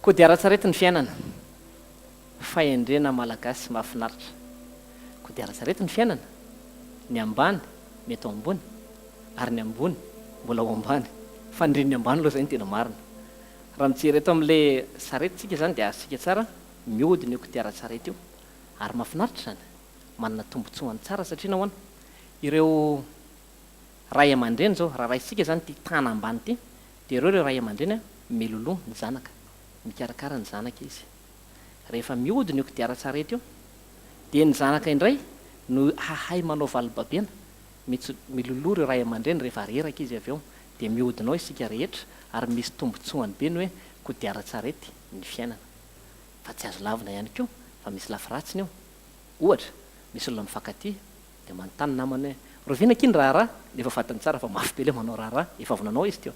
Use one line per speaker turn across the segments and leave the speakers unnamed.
Kodiaran-tsarety ny fiainana. Fahendrena Malagasy mahafinaritra. Kodiaran-tsarety ny fiainana. Ny ambany mety ho ambony ary ny ambony mbola ho ambany. Fa ny reny ambany aloha izay no tena marina. Raha mijery eto amin'ilay sarety isika izany dia azontsika tsara, mihodina io kodiaran-tsarety io. Ary mahafinaritra izany. Manana tombontsoany tsara satria nahoana? Ireo. Ray aman-dreny zao, raha raisitsika zany ity tana ambany ity, dia ireo ireo ray aman-dreny an, miloloha ny zanaka, mikarakara ny zanaka izy. Rehefa mihodina io kodiaran-tsarety io, dia ny zanaka indray no hahay manao valobabena, mits, miloloha ireo ray aman-dreny rehefa reraka izy avy eo. Dia mihodina ao isika rehetra, ary misy tombontsoany be ny hoe kodiaran-tsarety ny fiainana. Fa tsy azo lavina ihany koa, fa misy lafy ratsiny io. Ohatra, misy olona mifankatia, Dia manontany namany hoe, Rahoviana akia ny raharaha? Dia efa fadiny tsara fa mafy be ilay manao raharaha, efa avy nanao izy teo.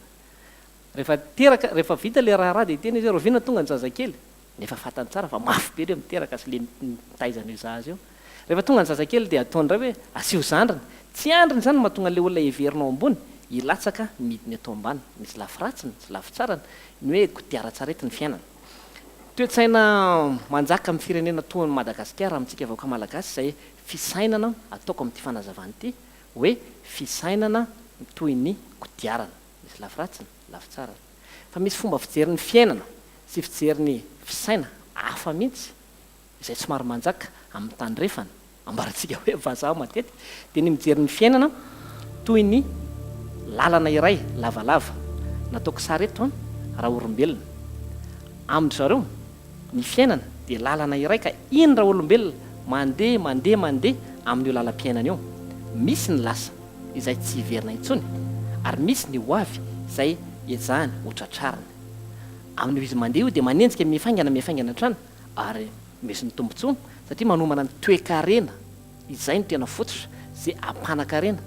Rehefa teraka, rehefa vita ilay raharaha dia hiteny izy hoe, Rahoviana tonga ny zazakely? Dia efa fantany tsara fa mafy be ilay miteraka sy ilay mitaiza an'io zaza io. Rehefa tonga ny zazakely dia ataony indray hoe, Asio zandriny. Tsy andriny izany no mahatonga an'ilay olona heverina ao ambony hilatsaka ny midiny eto ambany. Misy lafy ratsiny sy lafy tsarany ny hoe kodiaran-tsarety ny fiainana. Toe-tsaina manjaka amin'ny firenena toa an'i Madagasikara, amintsika vahoaka malagasy izay fisainana ataoko amin'ity fanazavana ity hoe fisainana toy ny kodiarana, misy lafy ratsiny, lafy tsarany. Fa misy fomba fijery ny fiainana sy fijery ny fisaina hafa mihitsy izay somary manjaka amin'ny tandrefana, ambarantsika hoe vazaha matetika, dia ny mijery ny fiainana toy ny lalana iray lavalava, nataoko sary eto an, raha orombelona amin-dry zareo, Ny fiainana dia lalana iray ka iny raolombelona mandeha mandeha mandeha amin'io lalam-piainana io, misy ny lasa izay tsy hiverina intsony ary misy ny ho avy izay ezahany ho tratrarina. Amin'io izy mandeha io dia manenjika mifaingana mifaingana hatrany ary misy ny tombontsoa satria manomana ny toe-karena. Izay no tena fototra ze ampanan-karena,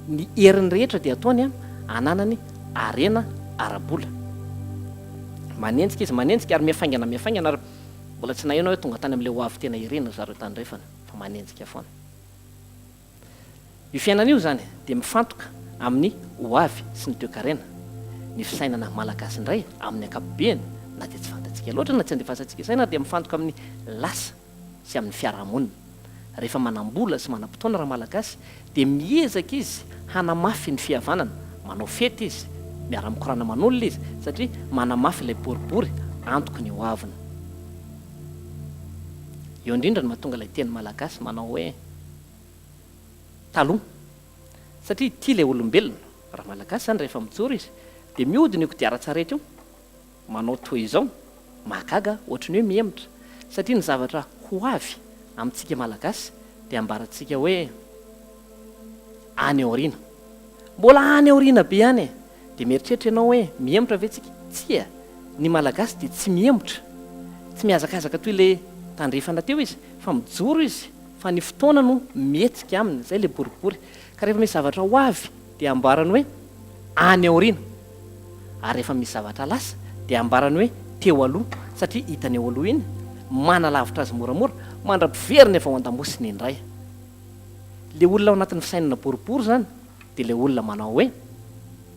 ny heriny rehetra dia ataony ananany harena ara-bola. Manenjika izy manenjika ary mihafaingana mihafaingana ary mbola tsy naheno aho hoe tonga tany amin'ilay ho avy tena irery ry zareo tandrefana fa manenjika foana. Io fiainana io izany dia mifantoka amin'ny ho avy sy ny toekarena, ny fisainana malagasy indray amin'ny ankapobeny na dia tsy fantatsika loatra na tsy andefasantsika saina ary dia mifantoka amin'ny lasa. sy amin'ny fiarahamonina. Rehefa manam-bola sy manam-potoana Ramalagasy dia miezaka izy hanamafy ny fihavanana, manao fety izy, miara-mikorana aman'olona izy satria manamafy ilay boribory antoky ny ho aviny. Eo indrindra no mahatonga ilay teny malagasy manao hoe taloha satria tia ilay olombelona. Ramalagasy izany rehefa mijoro izy dia miody an'io kodiaran-tsarety io manao toa izao, mahagaga ohatry ny hoe mihemotra, satria ny zavatra ho avy amintsika Malagasy dia ambarantsika hoe any aoriana. Mbola any aoriana be any e! Dia mieritreritra ianao hoe mihemotra ve tsika? Tsia, ny Malagasy dia tsy mihemotra, tsy mihazakazaka toy ilay tandrefana teo izy, fa mijoro izy, fa ny fotoana no mihetsika aminy, izay ilay boribory. Ka rehefa misy zavatra ho avy dia amboarany hoe any aoriana, ary rehefa misy zavatra lasa dia ambarany hoe teo aloha, satria hitany eo aloha iny, manalavitra azy moramora, mandra-piveriny avy ao an-damosiny indray. Ilay olona ao anatin'ny fisainana boribory izany dia ilay olona manao hoe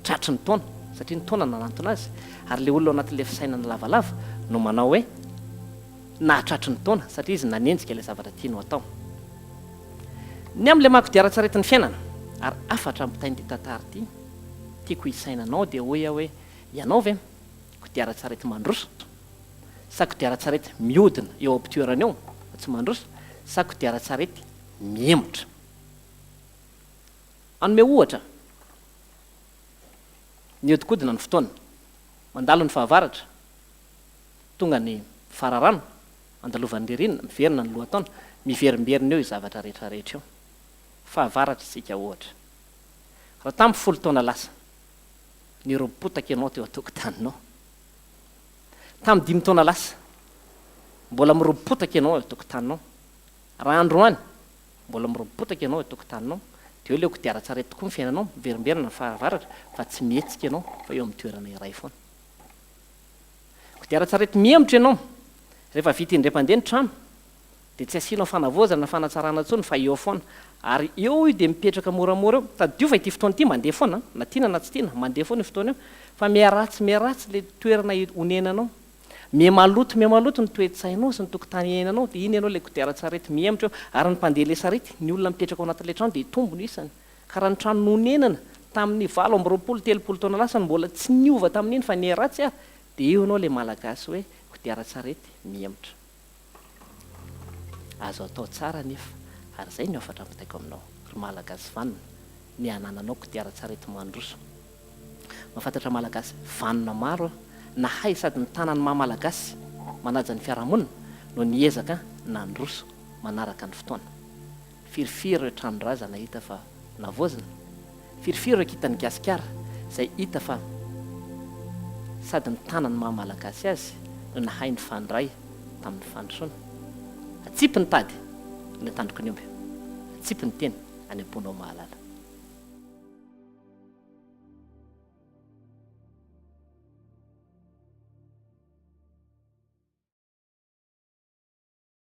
tratry ny taona, satria ny taona nanantona azy, ary ilay olona ao anatin'ilay fisainana lavalava no manao hoe. nahatratry ny taona satria izy nanenjika ilay zavatra tiany ho atao. Ny amin'ilay maha-kodiaran-tsaretin'ny fiainana. Ary hafatra ampitain'ity tantara ity tiako hisaina anao dia hoy aho hoe, ianao ve kodiaran-tsarety mandroso? Sa kodiaran-tsarety mihodina eo am-pitoerany eo fa tsy mandroso? Sa kodiaran-tsarety mihemotra? Hanome ohatra, Nihodinkodina ny fotoana. Mandalo ny fahavaratra. Tonga ny fararano, andalovan'ny ririnina, miverina ny lohataona, miverimberina eo io zavatra rehetra rehetra io. Fahavaratra isika ohatra. Raha tamin'ny folo taona lasa, nirompotaka ianao teo an-tokotaninao. Tamin'ny dimy taona lasa, mbola mirompotaka ianao eo an-tokotaninao. Raha androany, mbola mirompotaka ianao eo an-tokotaninao. Dia eo ilay kodiaran-tsarety tokoa ny fiainanao, miverimberina ny fahavaratra, fa tsy mihetsika ianao, fa eo amin'ny toerana iray foana. Kodiaran-tsarety mihemotra ianao. Rehefa vita indray-mpandeha ny trano, dia tsy asianao fanavaozana na fanatsarana intsony fa eo foana. Ary eo io dia mipetraka moramora eo. Tadidio fa ity fotoana ity mandeha foana, na tiana na tsy tiana, mandeha foana io fotoana io. Fa miharatsy miharatsy ilay toerana onenanao. Mihamaloto mihamaloto ny toe-tsainao sy ny tokotany iainanao, dia iny ianao ilay kodiaran-tsarety mihemotra eo. Ary ny mpandeha ilay sarety, ny olona mipetraka ao anatin'ilay trano dia hitombo ny isany. ka raha ny trano nonenana tamin'ny valo amby roapolo telopolo taona lasa no mbola tsy niova tamin'iny fa niharatsy ary dia eo ianao ilay malagasy hoe kodiaran-tsarety mihemotra. Azo atao tsara anefa ary izay no hafatra ampitaiko aminao ry malagasy vanona ny hanananao kodiaran-tsarety mandroso. Mahafantatra malagasy vanona maro aho nahay sady nitana ny maha malagasy manaja ny fiarahamonina no niezaka nandroso manaraka ny fotoana. Firifiry ireo tranon-drazana hita fa navaozina? Firifiry ireo kintan'i Gasikara izay hita fa sady nitana ny maha-malagasy azy no nahay nifandray tamin'ny fandrosoana? Atsipy ny tady any an-tandroky ny omby, atsipy ny teny any am-ponao ho mahalala.